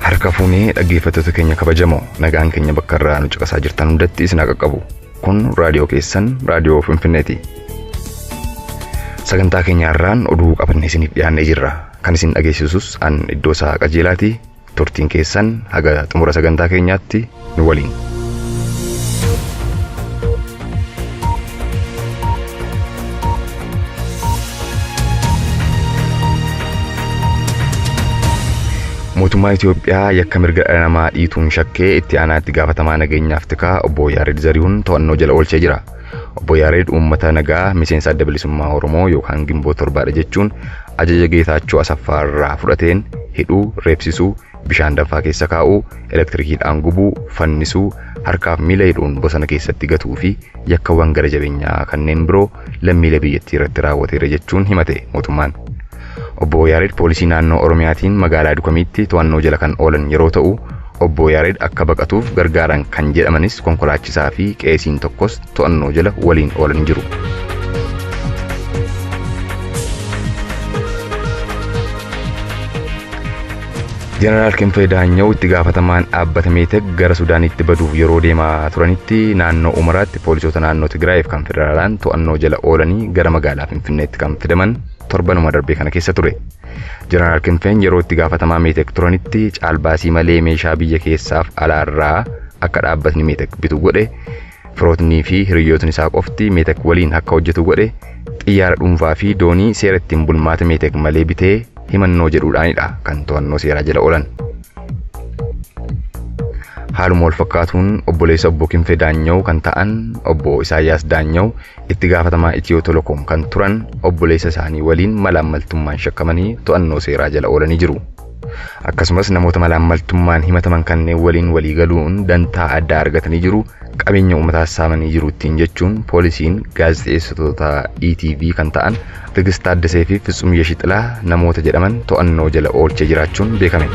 harka fuunee dhaggeeffattoota keenya kabajamoo nagaan keenya bakka irraa nu caqasaa jirtan hundatti isin haa qaqqabu kun raadiyoo keessan raadiyoo finfinneeti sagantaa keenya irraan oduu qabannee isiniif dhiyaannee jirra kan isin dhageessisus an iddoo isaa qajeelaati Turtiin keessan haga xumura sagantaa keenyaatti nu waliin. Mootummaa Itoophiyaa yakka mirga dhala namaa dhiituun shakkee itti aanaa itti gaafatamaa nageenyaaf tikaa obbo Yaared Zarihuun to'annoo jala oolchee jira. Obbo Yaareed uummata nagaa miseensa Adda Bilisummaa Oromoo yookaan Ginboot Torbaadha jechuun ajaja Geetaachoo Asaffaa irraa fudhateen hidhuu, reebsisuu, bishaan danfaa keessa kaa'uu, elektirikiidhaan gubuu, fannisuu, harkaaf miila hidhuun bosona keessatti gatuu fi yakkawwan gara jabeenyaa kanneen biroo lammiilee biyyattii irratti raawwateera jechuun himate mootummaan. Obbo Yaareed poolisii naannoo Oromiyaatiin magaalaa Dukamiitti to'annoo jala kan oolan yeroo ta'u, Obbo Yaareed akka baqatuuf gargaaran kan jedhamanis konkolaachisaa fi qeesiin tokkos to'annoo jala waliin oolanii jiru. Jeneraal Kinfee Daanyaw itti gaafatamaan dhaabbata Meetek gara Sudaanitti baduuf yeroo deemaa turanitti naannoo Umaraatti poolisoota naannoo Tigraayiif kan federaalaan to'annoo jala oolanii gara magaalaa Finfinneetti kan fidaman torbanuma darbee kana keessa ture. Jeneraal Kinfeen yeroo itti gaafatamaa Meetek turanitti caalbaasii malee meeshaa biyya keessaaf alaarraa akka dhaabbatni Meetek bitu godhe, firootnii fi hiriyyootni isaa qofti Meetek waliin akka hojjetu godhe, xiyyaara dhuunfaa fi doonii seera ittiin bulmaata Meetek malee bitee himannoo jedhuudhaanidha kan to'annoo seeraa jala oolan. Haaluma wal fakkaatuun obboleessa obbo Kinfee Daanyaw kan ta'an obbo Isaayyaas Daanyaw Itti gaafatamaa Itiyoo Telecom kan turan obboleessa isaanii waliin malaammaltummaan shakkamanii to'annoo seeraa jala oolanii jiru. Akkasumas namoota malaammaltummaan himataman kanneen waliin walii galuun dantaa addaa argatanii jiru, qabeenya uummataas saamanii jiru ittiin jechuun poolisiin gaazexeessitoota ETV kan ta'an Tigist Taaddesee fi Fitsum Yeshixilaa namoota jedhaman to'annoo jala oolchee jiraachuun beekame.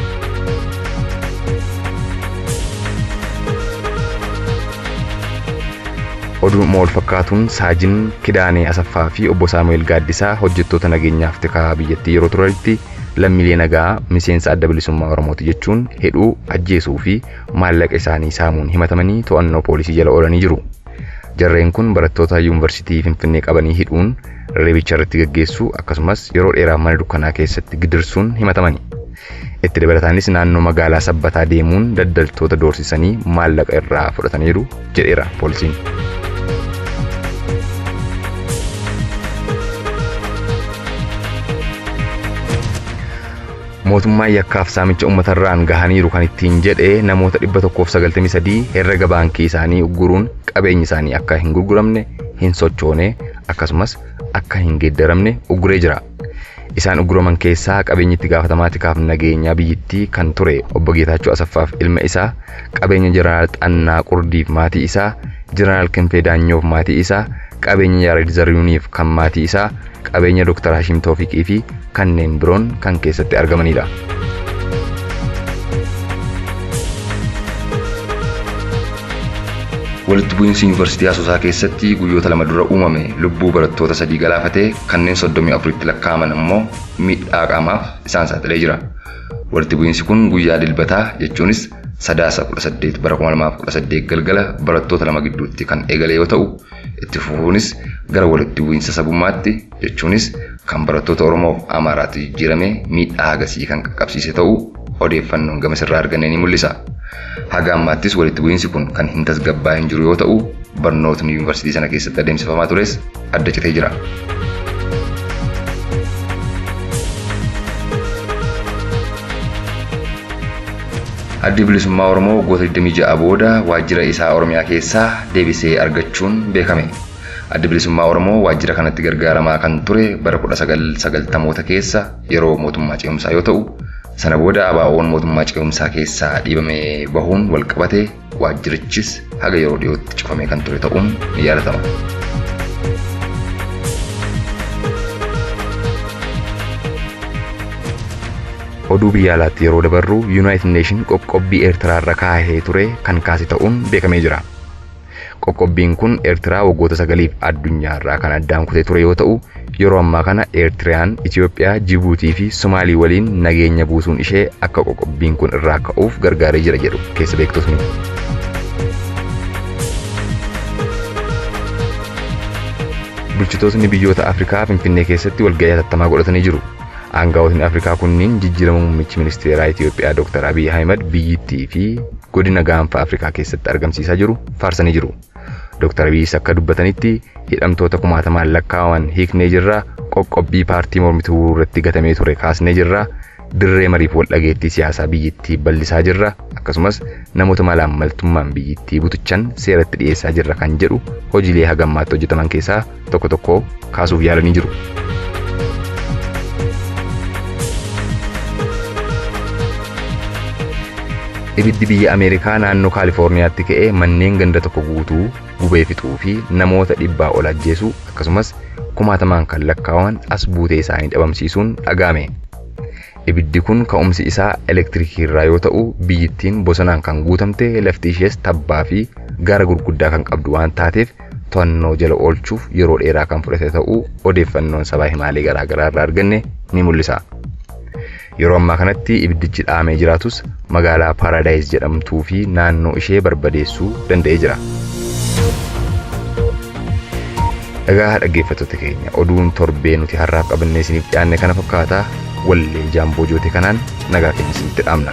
Oduuma walfakkaatuun Saajin Kidaanee Asaffaa fi Obbo Saamu'eel Gaaddisaa hojjettoota nageenyaaf tikaa biyyattii yeroo turanitti lammiilee nagaa miseensa Adda Bilisummaa Oromooti jechuun hidhuu, ajjeesuu fi maallaqa isaanii saamuun himatamanii to'annoo poolisii jala oolanii jiru. Jarreen kun barattoota Yuunvarsiitii Finfinnee qabanii hidhuun reebicha irratti gaggeessuu akkasumas yeroo dheeraaf mana dukkanaa keessatti gidirsuun himatamani. Itti dabalataanis naannoo magaalaa Sabbataa deemuun daldaltoota doorsisanii maallaqa irraa fudhataniiru jedheera poolisiin. Mootummaan yakkaaf saamicha ummatarraan gahaniiru kan ittiin jedhe namoota 193 herrega baankii isaanii ugguruun qabeenyi isaanii akka hin gurguramne, hin sochoone, akkasumas akka hin geeddaramne ugguree jira. Isaan ugguraman keessaa qabeenyi itti gaafatamaa tikaaf nageenyaa biyyittii kan ture Obbo Geetaachoo Asaffaaf ilma isaa, qabeenya Jeneraal Xannaa Qurdiif maatii isaa, Jeneraal Kinfee Daanyoof maatii isaa, qabeenya Yaareed Zariyuuniif kan maatii isaa, qabeenya Dr. Hashim Toofiqii fi kanneen biroon kan keessatti argamanidha. Walitti bu'iinsi Yuunivarsiitii Asoosaa keessatti guyyoota lama dura uumame lubbuu barattoota sadii galaafatee kanneen 34tti lakkaa'aman ammoo miidhaa qaamaaf isaan saaxilee jira. Walitti bu'iinsi kun guyyaa Dilbataa jechuunis Sadaasa 18 bara 2018 galgala barattoota lama gidduutti kan eegale yoo ta'u, Itti fufuunis gara walitti bu'iinsa sabummaatti jechuunis kan barattoota Oromoof Amaaraatti jijjiiramee miidhaa hagasii kan qaqqabsiise ta'uu odeeffannoon gamasirraa arganne ni mul'isa. Haga ammaattis walitti bu'iinsi kun kan hin tasgabbaa'in jiru yoo ta'u, barnootni yuunivarsiitii sana keessatti adeemsifamaa tures adda citee jira. Addi Bilisummaa Oromoo waggoota 26 booda waajjira isaa Oromiyaa keessaa deebisee argachuun beekame. Addi Bilisummaa Oromoo waajjira kanatti gargaaramaa kan ture bara 1990moota keessa yeroo mootummaa ce'umsaa yoo ta'u, sana booda ABOn mootummaa ce'umsaa keessaa dhiibamee bahuun walqabatee, Waajjirichis haga yeroo dhiyootti cufamee kan ture ta'uun ni yaadatama. Oduu biyya alaatti yeroo dabarru Yuunaayitid Neeshin qoqqobbii Eertiraarra kaahee ture kan kaase ta'uun beekamee jira. Qoqqobbiin kun Ertiraa waggoota sagaliif addunyaa irraa kan addaan kutee ture yoo ta'u, yeroo ammaa kana Ertiraan, Itoophiyaa, Jibuutii fi Somaalii waliin nageenya buusuun ishee akka qoqqobbiin kun irraa ka'uuf gargaaree jira jedhu keessa beektotni. Bulchitootni biyyoota Afrikaa Finfinnee keessatti walga'ii hatattamaa godhatanii jiru. Aangawootni Afrikaa kunniin jijjiirama muummichi ministeeraa Itiyoophiyaa Dooktar Abiy Ahimad biyyittii fi godina gaanfa Afrikaa keessatti argamsiisaa jiru faarsanii jiru. Dooktar Abiyis akka dubbatanitti hidhamtoota kumaatamaan lakkaa'aman hiiknee jirra, qoqqobbii paartii mormituu irratti gatamee ture kaasnee jirra, dirree mariif waldhageettii siyaasaa biyyittii ballisaa jirra, akkasumas namoota malaammaltummaan biyyittii butuchan seeratti dhiyeessaa jirra kan jedhu hojiilee haga ammaatti hojjetaman keessaa tokko tokko kaasuuf yaalanii jiru. Ibiddi biyya Ameerikaa naannoo Kaalifoorniyaatti ka'e manneen ganda tokko guutuu gubee fixuu fi namoota dhibbaa ol ajjeesuu akkasumas kumaatamaan kan lakkaa'aman as buutee isaanii dhabamsiisuun dhaga'ame. Ibiddi kun ka'umsi isaa elektirikii irraa yoo ta'u biyyittiin bosonaan kan guutamte lafti ishees tabbaa fi gaara gurguddaa kan qabdu waan taateef to'annoo jala oolchuuf yeroo dheeraa kan fudhate ta'uu odeeffannoon sabaa himaalee garaagaraa irraa arganne ni mul'isa. Yeroo ammaa kanatti ibiddichi dhaamee jiraatus magaalaa Paaraadaayis jedhamtuu fi naannoo ishee barbadeessuu danda'ee jira. Egaa dhaggeeffattoota keenya oduun torbee nuti har'aaf qabannee isiniif dhiyaanne kana fakkaata wallee jaamboo joote kanaan nagaa keenya isinitti dhaamna.